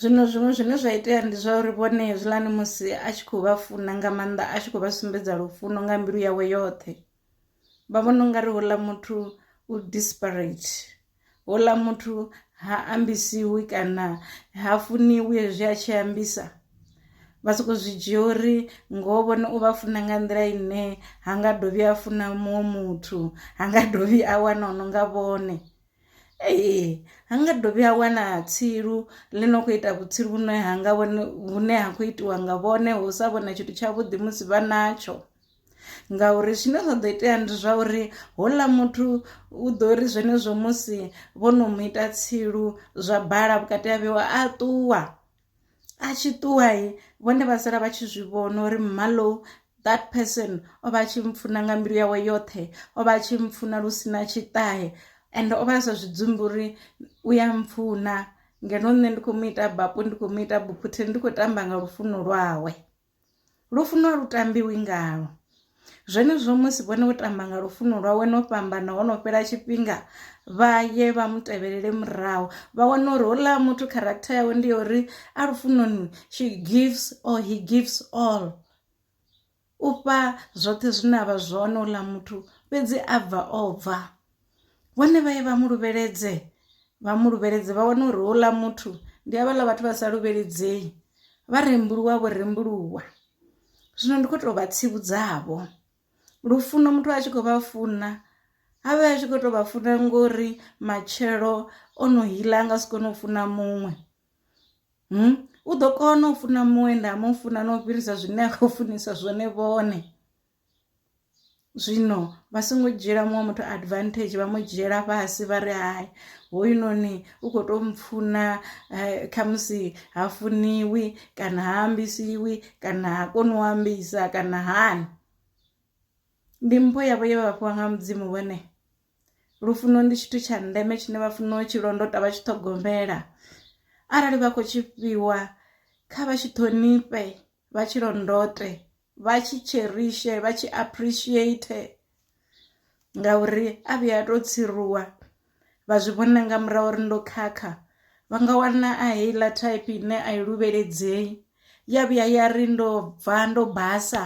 Zwino zwiṅwe zwine zwa itea ndi zwa uri vhone hezwiḽani musi a tshi khou vha funa nga maanḓa a tshi khou vha sumbedza lufuno nga mbilu yawe yoṱhe vha vhona ungari houḽa muthu u desperate houḽa muthu ha ambisiwi kana ha funiwi hezwi a tshi ambisa vha soko zwi dzhia uri ngoho vhone u vha funa nga nḓila ine ha nga dovhi a funa muṅwe muthu ha nga dovhi a wana o no nga vhone. ee ha nga dovhi ha wana tsilu ḽi no khou ita vhutsilu vhune ha nga vhone vhune ha khou itiwa nga vhone hu sa vhona tshithu tshavhuḓi musi vha natsho ngauri zwine zwa ḓo itea ndi zwa uri houḽa muthu u ḓo ri zwenezwo musi vho no mu ita tsilu zwa bala vhukati ha vheiwa a ṱuwa. a tshi ṱuwa vhone vha sala vha tshi zwi vhona uri mmalo that person o vha tshi mpfuna nga mbilu yawe yoṱhe o vha tshi mpfuna lu sina tshiṱahe and o vha a sa zwi dzumbi uri u ya mpfuna ngeno nṋe ndi khou mu ita bapo ndi khou mu ita buphutheni ndi khou tamba nga lufuno lwawe. Lufuno a lu tambiwi ngalo. Zwenezwo musi vhone vho tamba nga lufuno lwawe no fhambana ho no fhela tshifhinga vha ye vha mu tevhelele murahu vha wana uri houḽa muthu character yawe ndi ya uri a lufunoni she gives or he gives all u fha zwoṱhe zwine avha zwone houḽa muthu fhedzi a bva o bva. vhone vha ye vha mu luvheledze vha mu luvheledze vha wane uri houḽa muthu ndi havhaḽa vhathu vha sa luvheledzei vha rembuluwa vho rembuluwa zwino ndi khou tou vha tsivhudzavho lufuno muthu a tshi khou vha funa a vhe a tshi khou tou vha funa ngori matshelo o no hila a nga si kone u funa muṅwe hmm? u ḓo kona u funa muṅwe nda mu funa na u fhirisa zwine a khou funisa zwone vhone zwino vha songo dzhiela muṅwe muthu advantage vha mu dzhiela fhasi vha ri hai hoyunoni u khou tou mpfuna eh, khamusi ha funiwi kana ha ambisiwi kana ha koni u ambisa kana hani ndi mpho yavho ye vha fhiwa nga mudzimu vhone lufuno ndi tshithu tsha ndeme tshine vha funa u tshi londota vha tshi ṱhogomela arali vha khou tshi fhiwa kha vha tshi ṱhonifhe vha tshi londote vha tshi cherishe vha tshi appreciate ngauri a vhuya a to tsiruwa vha zwi vhona nga murahu uri ndo khakha vha nga wana a heiḽa thaiphi ine a i luvheledzei ya vhuya ya ri ndo bva ndo basa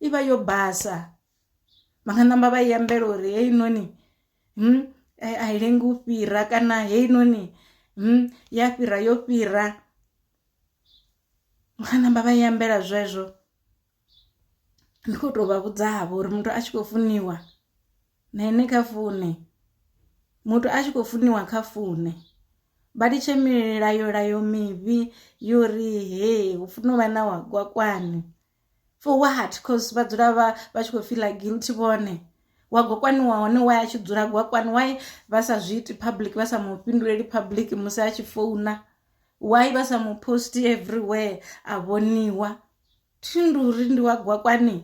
i vha yo basa vha nga namba vha i ambela uri heyi noni hmm, a i lengi u fhira kana heyi noni hmm, ya fhira yo fhira Vha ṋamba vha i ambela zwezwo ndi kho to vha vhudza vho uri muthu a tshi kho funiwa na ine kha fune muthu a tshi kho funiwa kha fune vha litshe milayo layo mivhi yo ri hee hu funa u vha na wa gwakwani. for what cause vha dzula vha vha tshi khou fiḽa guilty vhone wa gwa kwaniwa hone wa ya tshi dzula gwa kwani why vha sa zwi iti public vha sa mu fhinduleli public musi a tshi founa why vha sa mu post everywhere a vhoniwa thindu uri ndi wa gwa kwani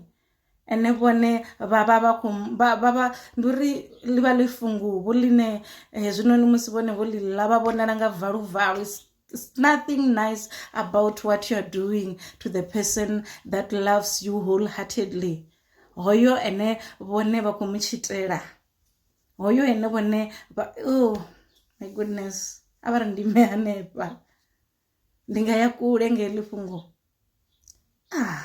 ene vhone vha vha vha kho vha vha ndi uri ḽi vha ḽi funguvhu ḽine hezwinoni musi vhone vho ḽi ḽa vha vhonala nga valu valu. It's nothing nice about what you're doing to the person that loves you wholeheartedly. Hoyo ene vhone vha khou mu tshitela. Hoyo ene vhone vha oh my goodness. A vha ri ndi me hanefha. Ndi nga ya kule nge ḽi fhungo. Ah.